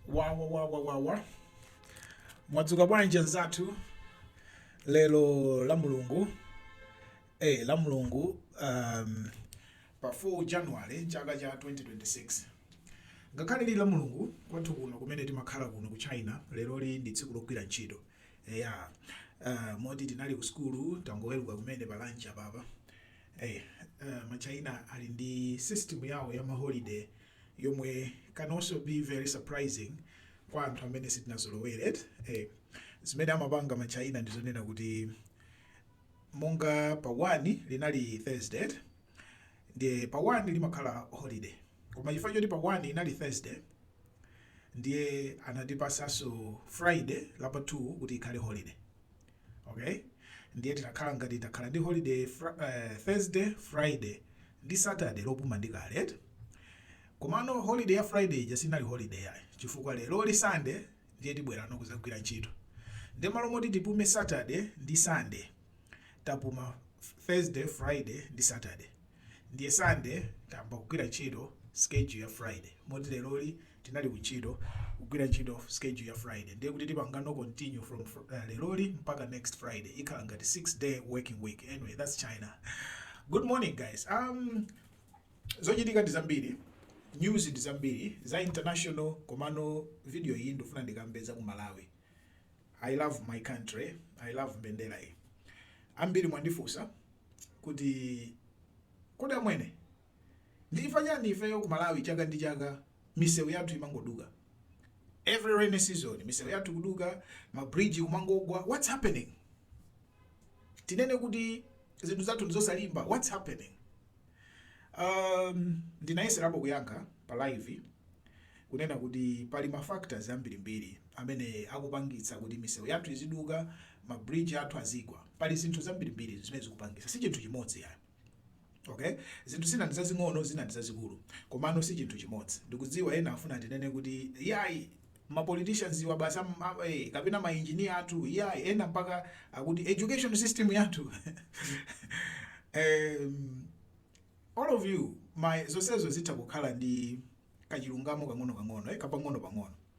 wawawawawawa mwadzuka bwanji anzathu lero la mulungu eh, la mulungu um, pa 4 january chaka cha 2026 ngakhale lili la mulungu kwathu kuno kumene timakhala kuno ku china lero li ndi tsiku logwira ntchito eya uh, moti tinali ku sukulu tangoweruka kumene pa lunch apapa eh, uh, machina ali ndi system yawo ya maholiday yomwe can also be very surprising kwa anthu amene sitinazolowere eti eh, zimene amapanga ma china ndi zonena kuti monga pa 1 linali thursday eti? ndiye pa 1 limakhala holiday koma chifukwa choti pa 1 inali thursday ndiye anatipasanso friday lapa 2 kuti ikhale holiday Ok ndiye tinakhala ngati takhala ndi holiday fr Thursday, Friday ndi Saturday lopuma ndi kale eti. Komano holiday ya Friday ija sinali holiday yayi chifukwa lero li Sunday ndiye tibwerano kuzagwira ntchito. Ndiye malo moti tipume Saturday ndi Sunday tapuma Thursday, Friday ndi Saturday. Ndiye Sunday tayamba kugwira ntchito schedule ya Friday moti lero li Tinali ku ntchito, kugwira ntchito schedule ya Friday ndiye kuti tipangano continue from lero li mpaka next Friday ikhala ngati 6 day working week anyway that's China. Good morning guys um zochitika ndi zambiri news ndi zambiri za international komano video iyi ndifuna ndikambe za ku Malawi. I love my country, I love mbendera iyi. Ambiri mwandifunsa kuti kodi amwene Ndi chifukwa chani ifeyo ku Malawi chaka ndi chaka misewu yathu imangoduka? Every rainy season misewu yathu ikuduka, ma bridge kumangogwa, what's happening? Tinene kuti zinthu zathu ndizosalimba? What's happening? Um, ndinayeserapo kuyankha pa live kunena kuti pali ma factors ambirimbiri amene akupangitsa kuti misewu yathu iziduka, ma bridge athu azigwa. Pali zinthu zambirimbiri zimene zikupangitsa, si chinthu chimodzi yayi. Ok? Zinthu zina ndi zazing'ono, zina ndi zazikulu. Komano si chinthu chimodzi. Ndikudziwa ena afuna ndinene kuti, Iyayi! Ma politicians awa basi am, am, eh, kapena ma engineer athu, iyayi! Ena mpaka akuti education system yathu. um, all of you, my zonsezo zitha kukhala ndi kachilungamo kang'ono kang'ono, eh, kapang'ono pang'ono.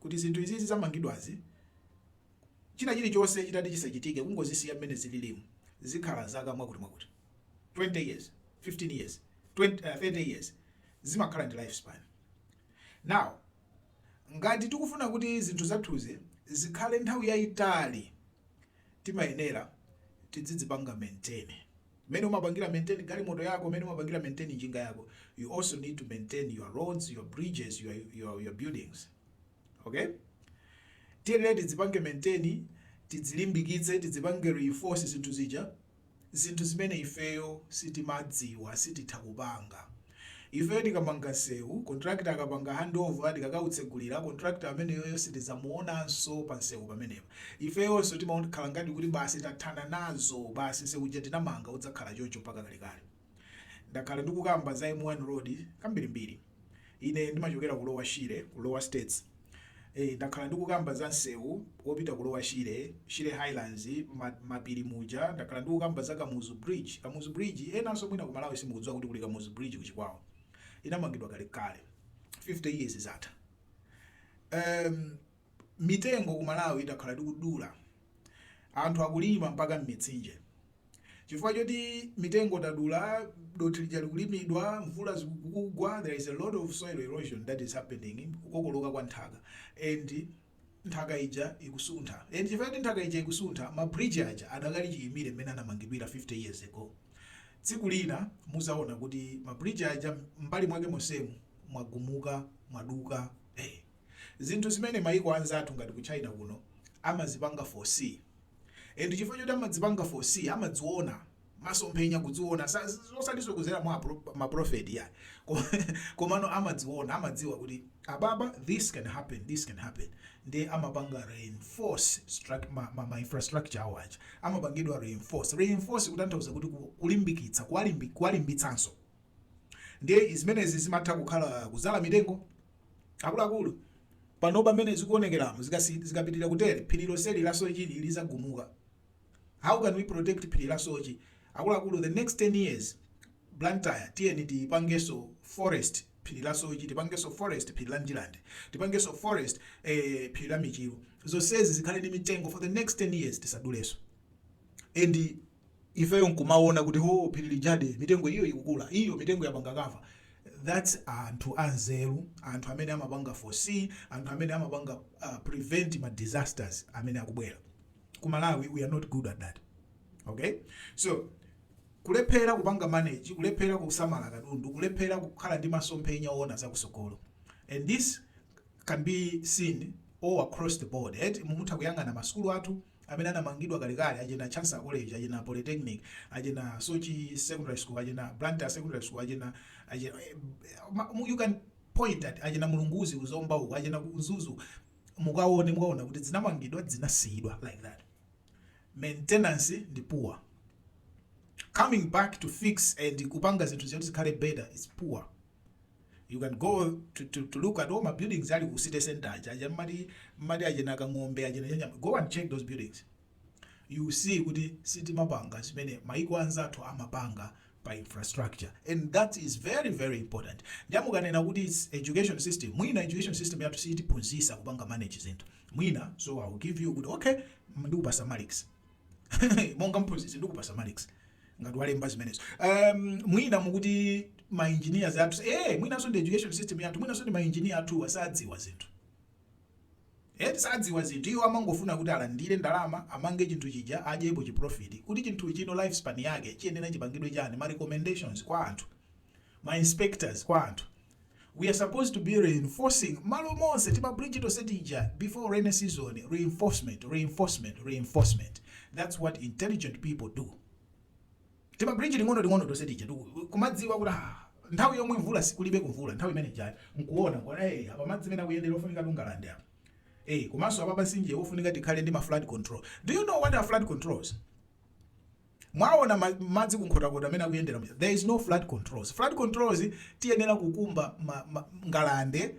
kuti zinthu izizi zamangidwazi china chilichonse chitati chisachitike kungozisiya mmene zililimu zikhala zaka mwakuti mwakuti 20 years 15 years 20, uh, 30 years zimakhala ndi life span now ngati tikufuna kuti zinthu zathuzi zikhale nthawi yayitali timayenera tidzidzipanga maintain Mmene umapangira maintain galimoto yako, mmene umapangira maintain njinga yako, you also need to maintain your roads, your bridges, your, your, your buildings. Okay? Tiyeni tidzipange maintain, tidzilimbikitse, tidzipange reinforce zinthu zija, zinthu zimene ifeyo sitimadziwa, sititha kupanga. Ifeyo tikamanga nsewu, contractor akapanga handover tikakautsegulira, contractor ameneyoyo sitidzamuonanso pansewu pamenepa. Ifeyonso timakhala ngati kuti basi tathana nazo, basi nsewu uja tinamanga udzakhala choncho mpaka kalekale. Ndakhala ndikukamba za M1 road kambirimbiri. Ine ndimachokera ku Lower Shire, ku Lower States. Eee ndakhala ndikukamba za nsewu opita ku Lower Shire, shire highlands, ma mapiri muja ndakhala ndikukamba za kamuzu bridge, kamuzu bridge enanso mwina ku malawi simukudziwa kuti kuli kamuzu bridge ku chikwawa inamangidwa kale kale 50 years zatha. Eeem mitengo ku malawi takhala tikudula. Anthu akulima mpaka m'mitsinje. Chifukwa choti mitengo tadula, dothi lija likulimidwa, mvula zikugwa, there is a lot of soil erosion that is happening, kukokoloka kwa nthaka, and nthaka ija ikusuntha. And chifukwa choti nthaka ija ikusuntha, ma bridge aja adakali chiyimire mmene anamangidwira 50 years ago. Tsiku lina muzaona kuti ma bridge aja m'mbali mwake monsemu mwagumuka, mwaduka, eh. zinthu zimene maiko anzathu ngati ku China kuno amazipanga foresee and chifukwa choti amadzipanga foresee amadziona masomphenya kudziona sa- osatiso kuzera mwa apro- maprofeti ya Ko- komano amadziona amadziwa kuti ababa this can happen this can happen ndi amapanga reinforce struct- ma, ma, ma infrastructure awo aja amapangidwa reinforce reinforce kutanthauza kuti ku- kulimbikitsa kuwalimbi- kuwalimbitsanso Ndiye zimenezi zimatha kukhala kudzala mitengo. Akuluakulu, panopa mmene zikuonekeramu, zikapitirira kutere, phiri lonseli la Soche li lidzagumuka. How can we protect phiri la Soche? Akuluakulu, the next 10 years, Blantyre tiyeni tipangenso forest phiri la Soche, tipangenso forest phiri la Ndirande, tipangenso forest eh, phiri la Michiru. Zonsezi zikhale ndi mitengo for the next 10 years, tisadulenso. And ifeyo nkumawona kuti hoo phiri lijadi mitengo iyo ikukula iyo mitengo yapanga cover that's anthu anzeru anthu amene amapanga foresee anthu amene amapanga uh, prevent ma disasters amene akubwera ku malawi we are not good at that okay so kulephera kupanga manage kulephera kusamala katundu kulephera kukhala ndi masomphenya owona zakusogolo and this can be seen all across the board et mukutha kuyang'ana masukulu athu amene anamangidwa kalekale achina Chancellor College achina Polytechnic achina Soche Secondary School achina Blantyre Secondary School achina achina eh, ma- mu- you can point at achina Mulunguzi ku Zomba uko achina Mzuzu mukaone mukaona kuti zinamangidwa zinasiyidwa like that maintenance ndi poor coming back to fix and kupanga zinthu zoti zikhale better is poor You can go to, to, to look at all ma buildings ali ku city center aja aja mmati mmati achina Kang'ombe achina Chayamba go and check those buildings you see kuti sitimapanga zimene maiko anzathu amapanga pa infrastructure and that is very very important ndiye mukanena kuti its education system mwina education system yathu sitiphunzitsa kupanga manage zinthu mwina so i will give you kuti okay ndikupatsa marks monga mphunzitsi ndikupatsa marks ngati walemba zimenezo um, mwina mukuti ma engineers athu eh mwinanso ndi education system yathu mwinanso ndi ma engineer athuwa sadziwa zinthu eh sadziwa zinthu iwo amangofuna kuti alandire ndalama amange chinthu chija adyepo chi profit kuti chinthu chino lifespan yake chiyenera chipangidwe chani ma recommendations kwa anthu ma inspectors kwa anthu We are supposed to be reinforcing malo monse tima bridge tonse tija before rainy season reinforcement reinforcement reinforcement that's what intelligent people do tima bridge ting'ono ting'ono tonse tija tiku- kumadziwa kuti ah, nthawi yomwe mvula kulibe kumvula nthawi imene ijayo nkuona kuti hey, apa madzi mmene akuyendera ofunika ngalande apa hey, komanso apa pamtsinje ofunika tikhale ndi ma flood control do you know what are flood controls Mwaona ma, madzi ku Nkhotakota mmene akuyendera muja, there is no flood controls. Flood controls tiyenera kukumba ma, ma, ngalande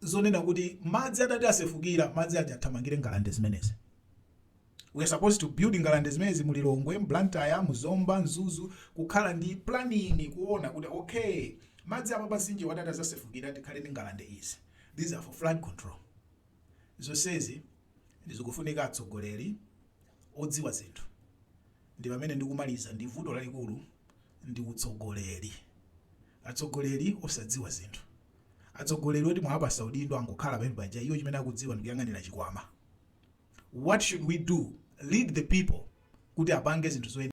zonena kuti madzi atati asefukira madzi aja athamangire ngalande zimenezi we are supposed to build ngalande zimenezi mu Lilongwe, Blantyre, mu Zomba, Mzuzu kukhala ndi planning kuona kuti okay madzi apa pamtsinje atadzasefukira tikhale ndi ngalande izi these are for flood control zonsezi Zikufunika atsogoleri odziwa zinthu ndi pamene ndikumaliza ndi vuto lalikulu ndi utsogoleri atsogoleri osadziwa zinthu atsogoleri oti mwawapatsa udindo angokhala pamene paja iwo chimene akudziwa ndikuyang'anira chikwama what should we do lead the people kuti apange zinthu zoyenera.